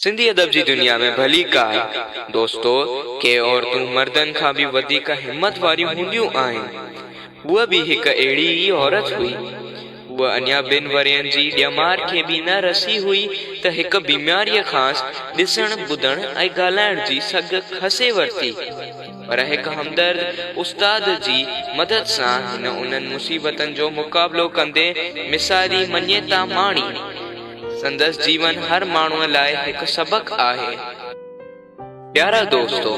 سنڌي ادب جي دنيا ۾ ڀلي ڪاهي دوستو ڪي عورتون مردن کان به وڌيڪ همت واريون هونديون آهن. هوء به هڪ اهڙي ئي عورت هئي. هوء اڃا ٻن ورهين جي ڄمار کي به نه رسي هئي ته هڪ بيماريء کانئس ڏسڻ، ٻڌڻ ۽ ڳالهائڻ جي سگهه کسي ورتي. پر هڪ همدرد استاد جي مدد سان هن انهن مصيبتن جو مقابلو ڪندي مثالي مڃيتا ماڻي. سندس جيون هر ماڻهوء لاء هڪ سبق آهي. پيارا دوستو!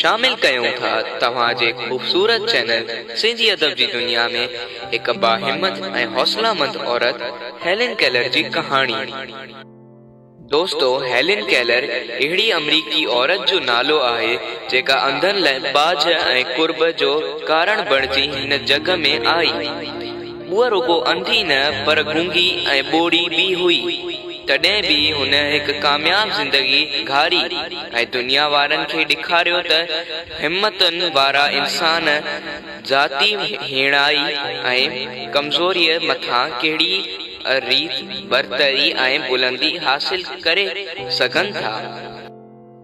شامل ڪيون ٿا توهان جي خوبصورت چينل سنڌي ادب جي دنيا ۾ هڪ باهمت ۽ حوصلامند عورت هيلن ڪيلر جي ڪهاڻي. دوستو هيلن ڪيلر اهڙي آمريڪي عورت جو نالو آهي جيڪا انڌن لاء ٻاجهه ۽ قرب جو ڪارڻ بڻجي هن جڳ ۾ آئي. هوء رڳو انڌي نه پر گونگي ۽ ٻوڙي به هئي تڏهن به هن هڪ ڪامياب زندگي گهاري ۽ دنيا وارن کي ڏيکاريو ته همتن وارا انسان ذاتي هيڻائي ۽ ڪمزوريء مٿان ڪهڙي ريت برتري ۽ بلندي حاصل ڪري سگهن ٿا.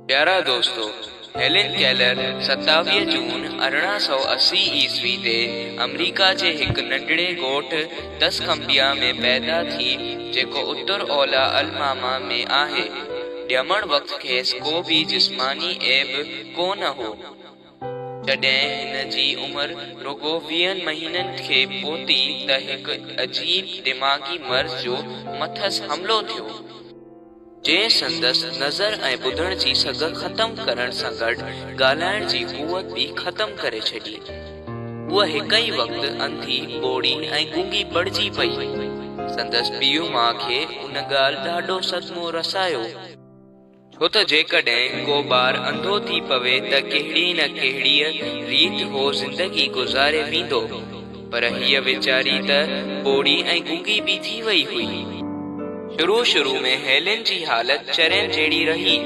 پيارا دوستو! هيلن ڪيلر ستاويهه جون ارڙهن سؤ اسي عيسوي تي آمريڪا جي هڪ ننڍڙي ڳوٺ تسڪمبيا ۾ پيدا ٿي جيڪو اتر اولا الماما ۾ آهي. ڄمڻ وقت کيس ڪو به جسماني عيب ڪو نه هو. جڏهن هن جي عمر رڳو ويهن مهينن کي پهتي ته هڪ عجيب دماغي مرض جو مٿس حملو ٿيو، جنهن سندس نظر ۽ ٻڌڻ جي سگهه ختم ڪرڻ سان گڏ ڳالهائڻ جي قوت به ختم ڪري ڇڏي. هوء هڪ ئي وقت انڌي، ٻوڙي ۽ گونگي بڻجي پئي. سندس پيء ماء کي ان ڳالهه ڏاڍو صدمو رسايو. ڇو ته جيڪڏهن ڪو ٻار انڌو ٿي پوي ته ڪهڙي نه ڪهڙيء ريت هو زندگي گذاري ويندو، پر هيء ويچاري ته ٻوڙي ۽ گونگي به ٿي وئي هئي. شروع شروع ۾ هيلن جي حالت چرين جهڙي رهي.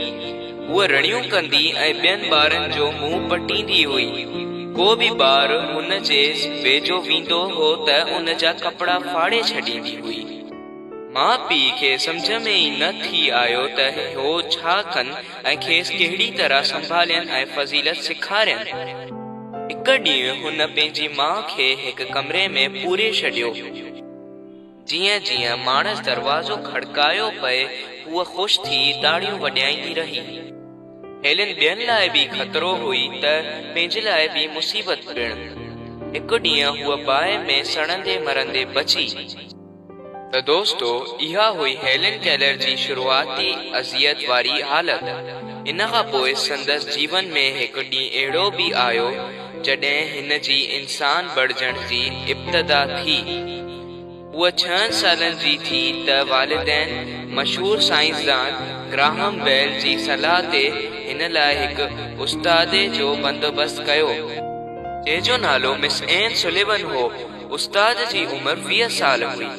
هوء رڙيون ڪندي ۽ ٻين ٻارن جو منهن پٽيندي هئي. ڪو به ٻار هن جي ويجهو ويندو هو ته ان جا ڪپڙا ڦاڙي ڇڏيندي هئي. ماء پيء کي سمجهه ۾ ئي نه ٿي آيو ته هو ڇا ڪن ۽ کيس ڪهڙي طرح سنڀالين ۽ فضيلت سيکارين. هڪ ڏينهن هن پنهنجي ماء کي هڪ ڪمري ۾ پوري ڇڏيو. جيئن جيئن ماڻس دروازو کڙڪايو پئي هوء خوش ٿي تاڙيون وڄائيندي رهي. هيلن ٻين لاء به خطرو هئي ته پنهنجي لاء به مصيبت پڻ. هڪ ڏينهن هوء باهه ۾ سڙندي مرندي بچي. ته دوستو اها هئي هيلن ڪيلر جي شروعاتي اذيت واري حالت. ان کان پوء سندس جيون ۾ هڪ ڏينهن اهڙو به آيو جڏهن هن جي انسان بڻجڻ جي ابتدا ٿي. هوء ڇهن سالن جي ٿي ته والدين مشهور سائنسدان گراهم بيل جي صلاح تي هن لاء هڪ استادي جو بندوبست ڪيو. جنهن جو نالو مس اين سوليون هو. استاد جي عمر ويهه سال هئي.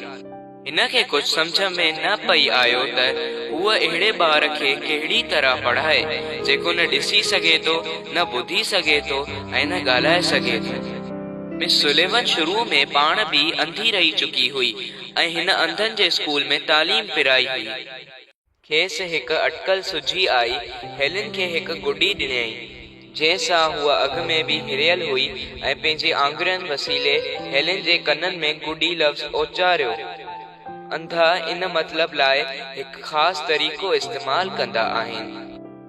هن کي ڪجهه سمجهه ۾ نه پئي آيو ته هوء اهڙي ٻار کي ڪهڙي طرح پڙهائي، جيڪو نه ڏسي سگهي ٿو، نه ٻڌي سگهي ٿو ۽ نه ڳالهائي سگهي ٿو. مس سوليون شروع ۾ پاڻ به انڌي رهي چڪي هئي ۽ هن انڌن جي اسڪول ۾ تعليم پرائي هئي. کيس هڪ اٽڪل سجهي آئي. هيلن کي هڪ گڏي ڏنيائين، جنهن سان هوء اڳ ۾ به هريل هئي ۽ پنهنجي آڱرين وسيلي هيلن جي ڪنن ۾ گڏي لفظ اچاريو. انڌا ان مطلب لاء هڪ خاص طريقو استعمال ڪندا آهن.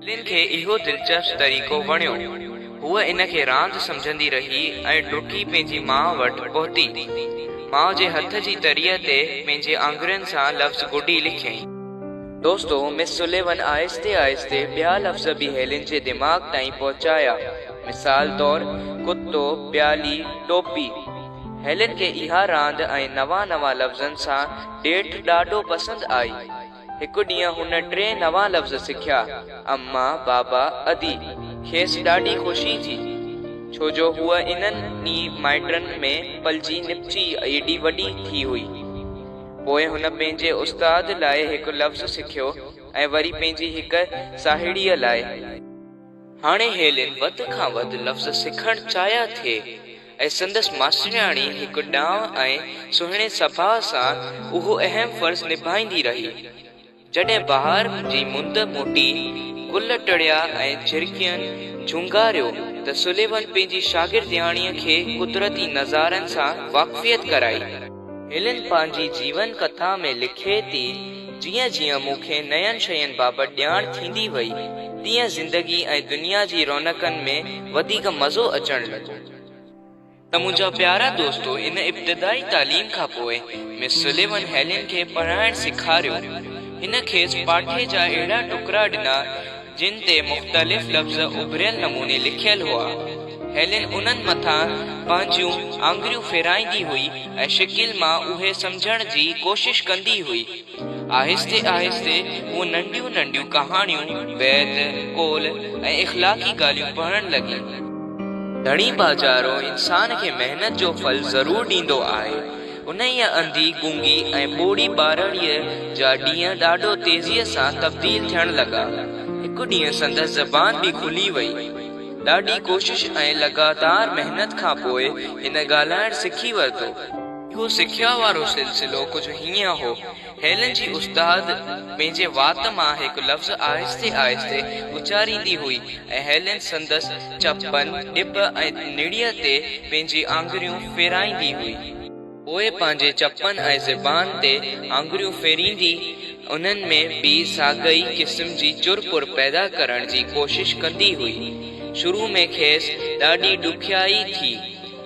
ٻنهين کي اهو دلچسپ طريقو وڻيو. هوء ان کي راند سمجهندي رهي ۽ ڊڪي پنهنجي ماء وٽ پهتي. ماء جي هٿ جي تريء تي پنهنجي آڱرين سان لفظ گڊي لکيائين. دوستو، مس سليون آهستي آهستي ٻيا لفظ به هيلين جي دماغ تائين پهچايا. مثال طور، ڪتو، پيالي، ٽوپي. هيلين کي اها راند ۽ نوان نوان لفظن سان ڏيٺ ڏاڍو پسند آئي. هڪ ڏينهن هن ٽي نوان لفظ سکيا، اما، بابا، ادي. کيس ڏاڍي خوشي ٿي، ڇو جو هوء انهن ئي مائٽن ۾ پلجي نپچي ايڏي وڏي ٿي هئي. پوء هن پنهنجي استاد لاء هڪ لفظ سکيو ۽ وري پنهنجي هڪ ساهيڙيء لاء. هاڻي هيلين وڌ کان وڌ لفظ سکڻ چاهيا ٿي. ۽ سندس ماسترياڻي هڪ ڏانء ۽ سهڻي سڀاء سان اهو اهم فرض نڀائيندي رهي. جڏهن بهار جي مند موٽي، گل ٽڙيا ۽ جهرڪين جهونگاريو ته سليون پنهنجي شاگردياڻيء کي قدرتي نظارن سان واقفيت ڪرائي. هيلن پنهنجي جيون ڪٿا ۾ لکي ٿي، جيئن جيئن مون کي نين شين بابت ڄاڻ ٿيندي وئي، تيئن زندگي ۽ دنيا جي رونقن ۾ وڌيڪ مزو اچڻ لڳو. ته منهنجا پيارا دوستو ان ابتدائي تعليم کان پوء مس سليون هيلن کي پڙهائڻ سيکاريو. هن کيس پاٺي جا اهڙا ٽڪرا ڏنا، جن تي مختلف لفظ اڀريل نموني لکيل هئا. هيلن انهن مٿان پنهنجيون آڱريون ڦيرائيندي هئي ۽ شڪل مان اهي سمجهڻ جي ڪوشش ڪندي هئي. آهستي آهستي هوء ننڍيون ننڍيون ڪهاڻيون، بيت، قول ۽ اخلاقي ڳالهيون پڙهڻ لڳي. ڌڻي باجارو انسان کي محنت جو ڦل ضرور ڏيندو آهي. انهيء انڌي، گونگي ۽ ٻوڙي ٻارڙيء جا ڏينهن ڏاڍو تيزيء سان تبديل ٿيڻ لڳا. هڪ ڏينهن سندس زبان به کلي وئي. ڏاڍي ڪوشش ۽ لڳاتار محنت کان پوء هن ڳالهائڻ سکي ورتو. اهو سکيا وارو سلسلو ڪجهه هيئن هو. هيلن جي استاد پنهنجي وات مان هڪ لفظ آهستي آهستي اچاريندي هئي ۽ هيلن سندس چپن، ڏٻ ۽ نڙيء تي پنهنجي آڱريون ڦيرائيندي هئي. پوء پنهنجي چپن ۽ زبان تي آڱريون ڦيريندي انهن ۾ به ساڳئي قسم جي چر پور پيدا ڪرڻ جي ڪوشش ڪندي هئي. شروع ۾ کيس ڏاڍي ڏکيائي ٿي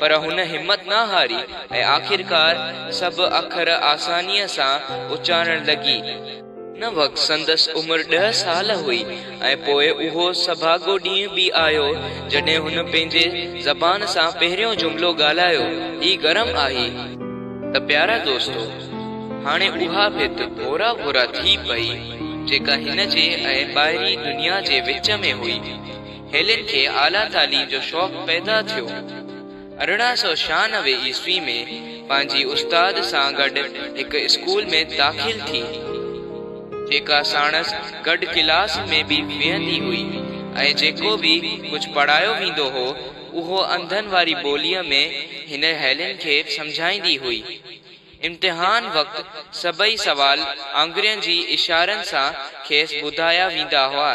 پر هن همت نه هاري ۽ آخرڪار سڀ اکر آسانيء سان اچارڻ لڳي. ان وقت سندس عمر ڏهه سال هئي ۽ پوء اهو سڀاڳو ڏينهن به آيو، جڏهن هن پنهنجي زبان سان پهريون جملو ڳالهايو، هي گرم آهي. ته پيارا دوستو! هاڻي اها ڀت ڀورا ڀورا ٿي پئي، جيڪا هن جي ۽ ٻاهرين دنيا جي وچ ۾ هئي. هيلن کي اعليٰ تعليم جو شوق پيدا ٿيو. ارڙهن سؤ ڇهانوي عيسوي ۾ پنهنجي استاد سان گڏ هڪ اسڪول ۾ داخل ٿي، جيڪا ساڻس گڏ ڪلاس ۾ به ويهندي هئي ۽ جيڪو به ڪجهه پڙهايو ويندو هو، اهو انڌن واري ٻوليء ۾ هن هيلن کي سمجهائيندي هئي. امتحان وقت سڀئي سوال آڱرين جي اشارن سان کيس ٻڌايا ويندا هئا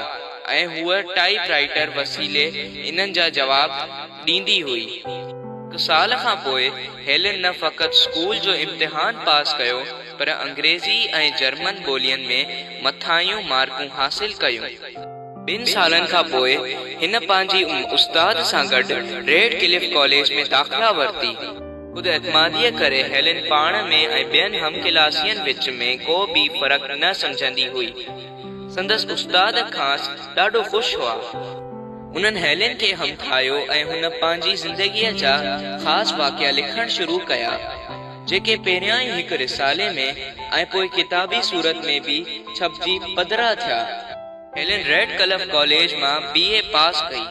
۽ هوء ٽائيپ رائيٽر وسيلي انهن جا جواب ڏيندي هئي. هڪ سال کان پوء هيلن نه فقط اسڪول جو امتحان پاس ڪيو پر انگريزي ۽ جرمن ٻولين ۾ مٿاهيون مارڪون حاصل ڪيون. ٻن سالن کان پوء هن پنهنجي استاد سان گڏ ريڊ ڪلف ڪاليج ۾ داخلا ورتي. خود اعتماديء ڪري هيلن پاڻ ۾ ۽ ٻين هم ڪلاسين وچ ۾ ڪو به فرق نه سمجهندي هئي. سندس استاد کانئس ڏاڍو خوش هئا. هنن هيلن کي همٿايو ۽ هن پنهنجي زندگيء جا خاص واقعا لکڻ شروع ڪيا، جيڪي پهريائين هڪ رسالي ۾ ۽ پوء ڪتابي صورت ۾ به ڇپجي پڌرا ٿيا. هيلن ريڊڪلف ڪاليج مان بي. اي پاس ڪئي.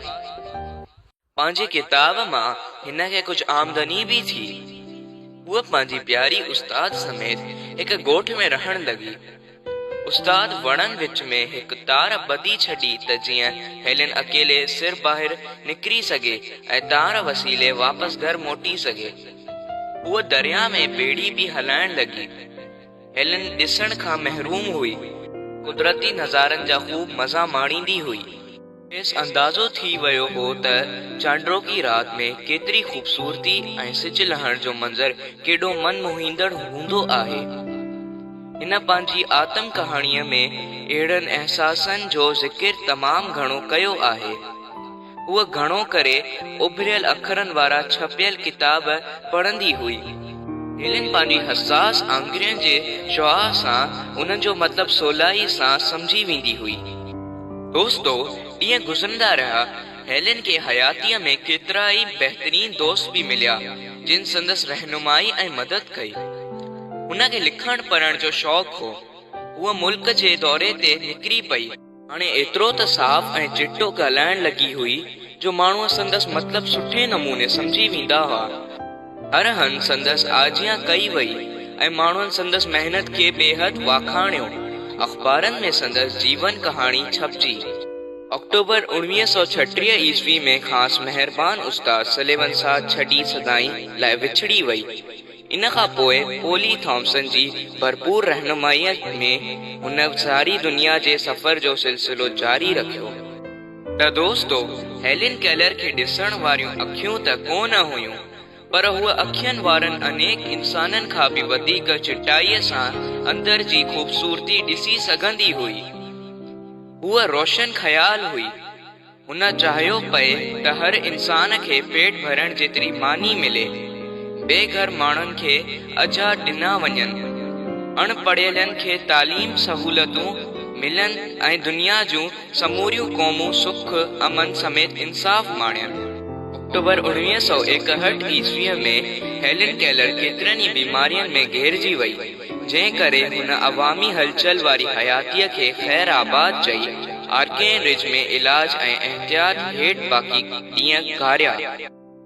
پنهنجي ڪتاب مان هن کي ڪجهه آمدني به ٿي. هوء پنهنجي پياري استاد سميت هڪ ڳوٺ ۾ رهڻ لڳي. استاد وڻن وچ ۾ هڪ تار ٻڌي ڇڏي ته جيئن هيلن اڪيلي سر ٻاهر نڪري سگهي ۽ تار وسيلي واپس گهر موٽي سگهي. هوء درياء ۾ ٻيڙي به هلائڻ لڳي. هيلن ڏسڻ کان محروم هئي. قدرتي نظارن جا خوب مزا ماڻيندي هئي. کيس اندازو ٿي ويو هو ته چانڊوڪي رات ۾ ڪيتري خوبصورتي ۽ سج لهڻ جو منظر ڪيڏو من موهيندڙ هوندو آهي. هن پنهنجي آتم ڪهاڻيء ۾ اهڙن احساسن جو ذڪر تمام گهڻو ڪيو آهي. هوء گهڻو ڪري اڀريل اکرن وارا ڇپيل ڪتاب پڙهندي هئي. هيلن پنهنجي حساس آڱرين جي شعاع سان انهن جو مطلب سولائيء سان سمجهي ويندي هئي. دوستو، ڏينهن گذرندا رهيا، هيلن کي حياتيء ۾ ڪيترا ئي بهترين دوست به مليا، جن سندس رهنمائي ۽ مدد ڪئي. هن کي لکڻ پڙهڻ جو شوق هو. هوء ملڪ جي دوري تي نڪري پئي. هاڻي ايترو ته صاف ۽ چٽو ڳالهائڻ لڳي هئي، جو ماڻهو سندس مطلب سٺي نموني سمجهي ويندا هئا. ارهن سندس آجيان ڪئي وئي ۽ ماڻهن سندس محنت کي بيحد واکاڻيو. اخبارن ۾ سندس جيون ڪهاڻي ڇپجي. آڪٽوبر اوڻويهه سؤ ڇٽيهه عيسوي ۾ کانئس مهربان استاد سليون ساٿ ڇڏي سدائين لاء وڇڙي وئي. ان کان پوء پولي ٿامسن جي ڀرپور رهنمائيء ۾ هن ساري دنيا جي سفر جو سلسلو جاري رکيو. ته دوستو هيلين ڪيلر کي ڏسڻ واريون اکيون ته ڪو نه هيون پر هوء اکين وارن انيڪ انسانن کان به وڌيڪ چٽائيء سان اندر جي خوبصورتي ڏسي سگهندي هئي. هوء روشن خيال هئي. هن چاهيو پئي ته هر انسان کي پيٽ ڀرڻ جيتري ماني ملي. بي گهر ماڻهن کي اجها ڏنا وڃن. اڻ پڙهيلن کي تعليم سهولتون ملن ۽ دنيا جون سموريون قومون سک، امن سميت انصاف ماڻين. آڪٽوبر اوڻويهه سؤ ايڪهٺ عيسويء ۾ هيلن ڪيلر ڪيترن ئي بيمارين ۾ گهيرجي وئي، جنهن ڪري هن عوامي هلچل واري حياتيء کي خير آباد چئي، آرڪين رج ۾ علاج ۽ احتياط هيٺ باقي ڏينهن گهاريا.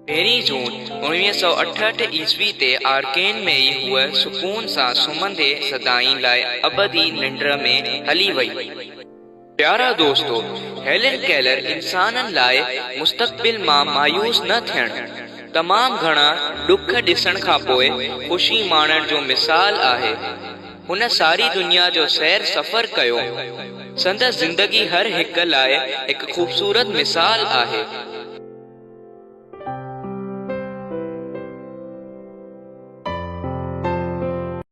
پهرين جون اوڻويهه سؤ اٺهٺ عيسوي تي آرڪين ۾ ئي هوء سڪون سان سمهندي سدائين لاء ابدي ننڊ ۾ هلي وئي. پيارا دوستو! هيلن ڪيلر انسانن لاء مستقبل مان مايوس نه ٿيڻ، تمام گهڻا ڏک ڏسڻ کان پوء خوشي ماڻڻ جو مثال آهي. هن ساري دنيا جو سير سفر ڪيو. سندس زندگي هر هڪ لاء هڪ خوبصورت مثال آهي.